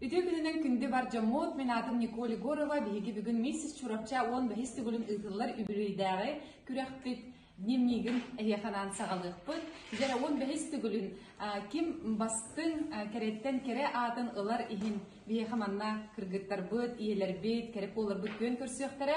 Үтүө күнүнэн күндү бар дьоммут, мин аатым Николь Егорова, биһиги бүгүн миссис Чурапча уон бэһис төгүлүн ыытыллар үбүлүөйдээҕи күрэхпит днем миигин эһиэханаан саҕалыахпыт. Дьэ, уон бэһис төгүлүн ким бастыҥ кэрэттэн кэрэ аатын ылар иһин биһиэхэ манна кыргыттарбыт, ийэлэрбит, кэрэ буоларбыт күөн көрсүөхтэрэ.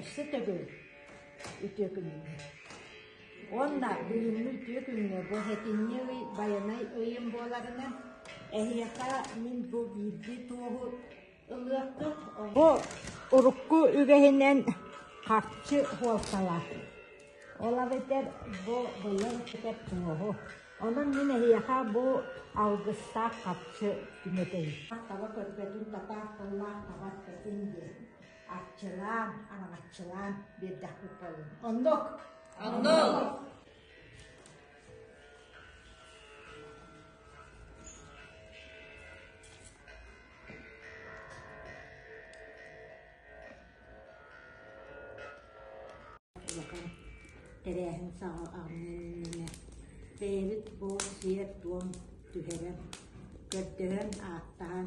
Өссө төгүл үтүө күнүҥҥэ. Уонна бүгүҥҥү үтүө күҥҥэ бу этинньи ый байанай ыйым буоларынан эһиэхэ мин бу биирдии туоһу ылыахпыт. Бу урукку үгэһинэн харчы суолталаах. Ол эбэтэр бу быйыл этэр туоһу. Онон мин эһиэхэ бу алгыстаах харчы түмэтэйим. Таба көрбөтүн татаах тыллаах табас кэтин диэн. Арчылаан, араҥаччылаан биэрдэхпит буоллун. Оннук. Оннук. тэрээһин саҕа армыынныны бэйэбит бу сиэр-туом түһэрэн көрдөһөн ааттаан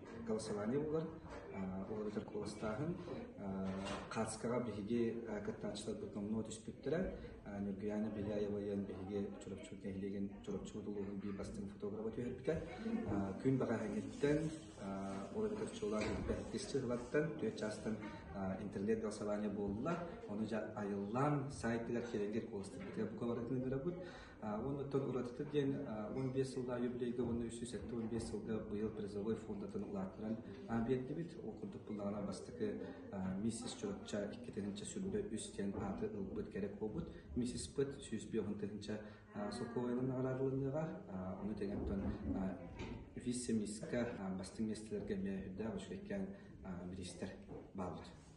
голосование булан, уларытар куоластааһын. Кацкаҕа биһиги кыттааччыларбыт номнуо түспүттэрэ. Ньургуяна Беляева-ян биһиги Чурапчы нэһилиэгин Чурапчыбыт улууһун биир бастыҥ фотографа түһэрбитэ. Күн баҕаһыҥҥыттан уларытар чуолаан эппэттисчи ылаттан түөрт чаастан интернет голосование буолла. Ону айыллаан саайтыгар киирэлгэр куоластарбытыгар букаларытын ыгырабыт. Уонуттан уратыта диэн он биэс сыллаах юбилейга уонна үс сүүс сэттэ уон биэс сылга быйыл призовой фондатын ылааттаран биэрдибит. Ол курдук буллаҕына бастакы миссис Чурапча икки тыһынча сүллэ үс диэн ааты ылбыт кэрэ буолбут. Миссис Пыт сүүс биоһун тыһынча солкуобайынан наҕараадалыныаҕа. Ону тэҥэттэн вице-миска бастыҥ миэстэлэргэ эмиэ үрдээх учугэккээн бириистэр бааллар.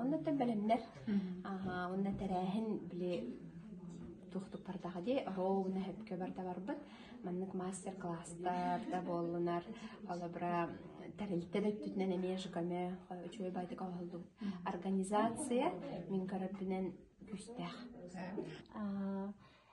Оннуттан бэлэмнэр уонна тэрээһин били туохтуппардаҕа дии роуна хөпкө барда барбыт маннык мастер класстар да буоллунар олобра тэрилтэ да өттүтүнэн эмиэ жкаме үчүгэй байтыка оһолду организация мин көрөппүнэн күүстээх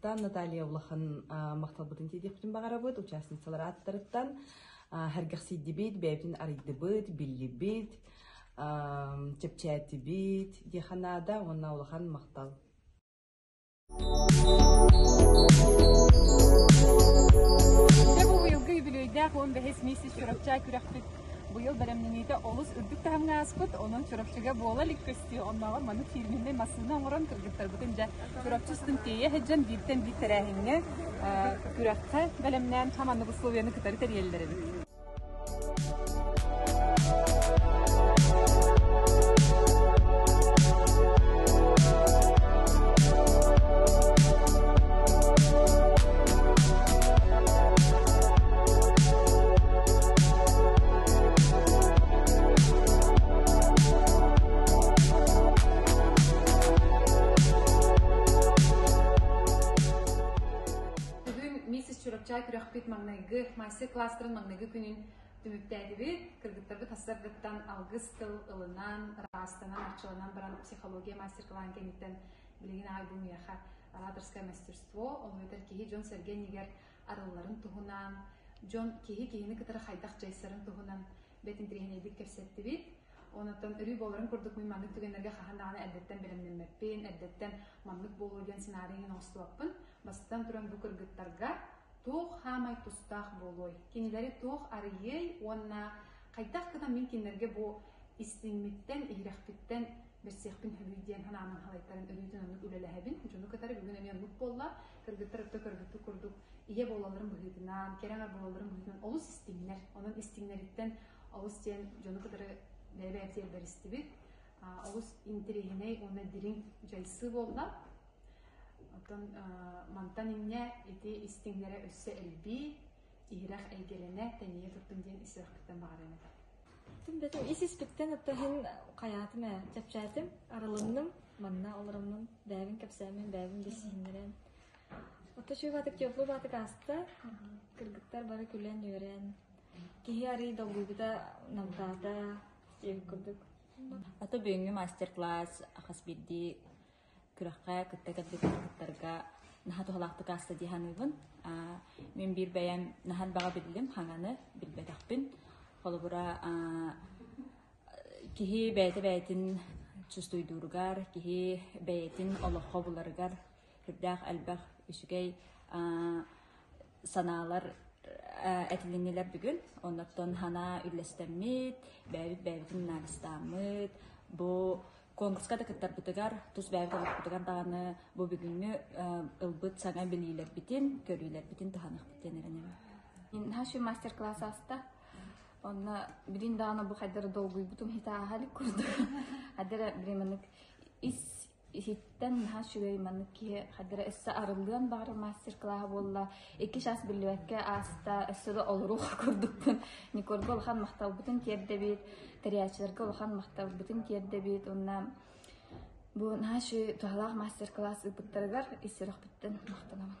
Тан Наталья улахан махталбытын тиэдиэхпитин баҕарабыт участницалар ааттарыттан хэргэхсийдибит бэйэбитин арыйдыбыт биллибит чэпчээтибит диэхэ наада уонна улахан махтал Дьэ бу быйылгы үбүлүөйдээх уон бэһис миссис Чурапча күрэхпит Быйыл бэлэмнэниитэ олус үрдүк таһымҥа ааспыт, онон Чурапчыга буола илик көстүү, оннооҕор маннык фирменнэй массыына оҥорон кыргыттарбытын дьэ Чурапчы устун тиэйэ сылдьан бииртэн биир тэрээһиҥҥэ, күрэххэ бэлэмнээн хам аннык условиены кытары тэрийэллэр эбит. Чурапча күрөхпүт маҥнайгы, маастер кластерын маҥнайгы күнүн түмүктээтибит. Кыргыттарбыт хастаргыттан алгыс тыл ылынан, ыраастанан, арчыланан баран психология мастер-классан кэнниттэн Билигин аҕа миэхэ ораторское мастерство, ол эбэтэр киһи дьон-сэргэ иннигэр арылларын туһунан, дьон киһи киһини кытары хайдах дьайсарын туһунан бэт интириэһинэйдик кэпсэттибит. Онуттан өрүү буоларын курдук мин маннык түгэннэргэ хаһан даҕаны эрдэттэн бэлэмнэммэппин, эрдэттэн маннык буолуо диэн сценарийын оҥостуохпун. Бастатан туран бу кыргыттарга туох хаамай тустаах буолуой, кинилэри туох арыйыай уонна хайдах гынан мин кинилэргэ бу истиҥмиттэн, иһирэхпиттэн Билсиэхпин сөбүй диэн санаамын халайтаран өрүүтүн оннук үлэлэһэбин. Дьону кытары бүгүн эмиэ оннук буолла. Кыргыттар өттө кыргыттык курдук ийэ буолалларын быһыытынан, кэрэ аҥар буолалларын быһыытынан олус истиҥнэр. Онон истиҥнэриттэн олус диэн дьону кытары бэйэ-бэйэм сиэрбэр истибит. Олус интириэһинэй уонна дириҥ дьайсыы буолла. Оттон мантан инньэ ити истиҥнэрэ өссө элбии, иһирэх эйгэлэнэ, тэнийэ турдун диэн ис сүрэхпиттэн баҕарыам этэ. Бөтө ис-испиттэн ытта иһин хайаатым ээ, чэпчээтим, арылынным, манна олороммун бэйэбин кэпсээмин, бэйэбин билсиһиннэрэн. Отто үчүгэй баатык теплый баатык ааста. Кыргыттар бары күлэн үөрэн. Киһи арый долгуйбута, намтаата, сиэх курдук. Ата бүгүҥҥү мастер-класс хас биирдии күрэххэ кытта кэлбит кыттарга наһаа туһалаахтык ааста дии саныыбын. Мин биир бэйэм наһан баҕа биллим, хаҥаны билбэтэхпин. Холобура, киһи бэйэтэ бэйэтин чувствуйдууругар, киһи бэйэтин олоххо буларыгар үрдээх элбэх үчүгэй санаалар этилиннилэр бүгүн. Оннуттан хана үллэстэммит, бэйэбит бэйэбитин наадастааммыт, бу конкурска да кыттарбытыгар, тус бэйэм кэлэхпитигэр даҕаны бу бүгүҥҥү ылбыт саҥа билиилэрбитин, көрүүлэрбитин таһаныахпыт диэн эрэнэбин. Наши мастер-класс аста. Онно билин даҕаны бу хайдары долгуйбутум хитааха илик курдук. Хадара бириманык ис иһиттэн наһаа үчүгэй маннык киһи хадара өссө арыллыан баҕар мастер-класс буолла Икки чаас биллибэккэ ааста, өссө да олоруох курдукпун. Никольга улахан махталбытын тиэрдэбит, тэрийээччилэргэ улахан махталбытын тиэрдэбит уонна бу наши туһалаах мастер-класс ыыппыттарыгар исерөхпүттэн махтанабын.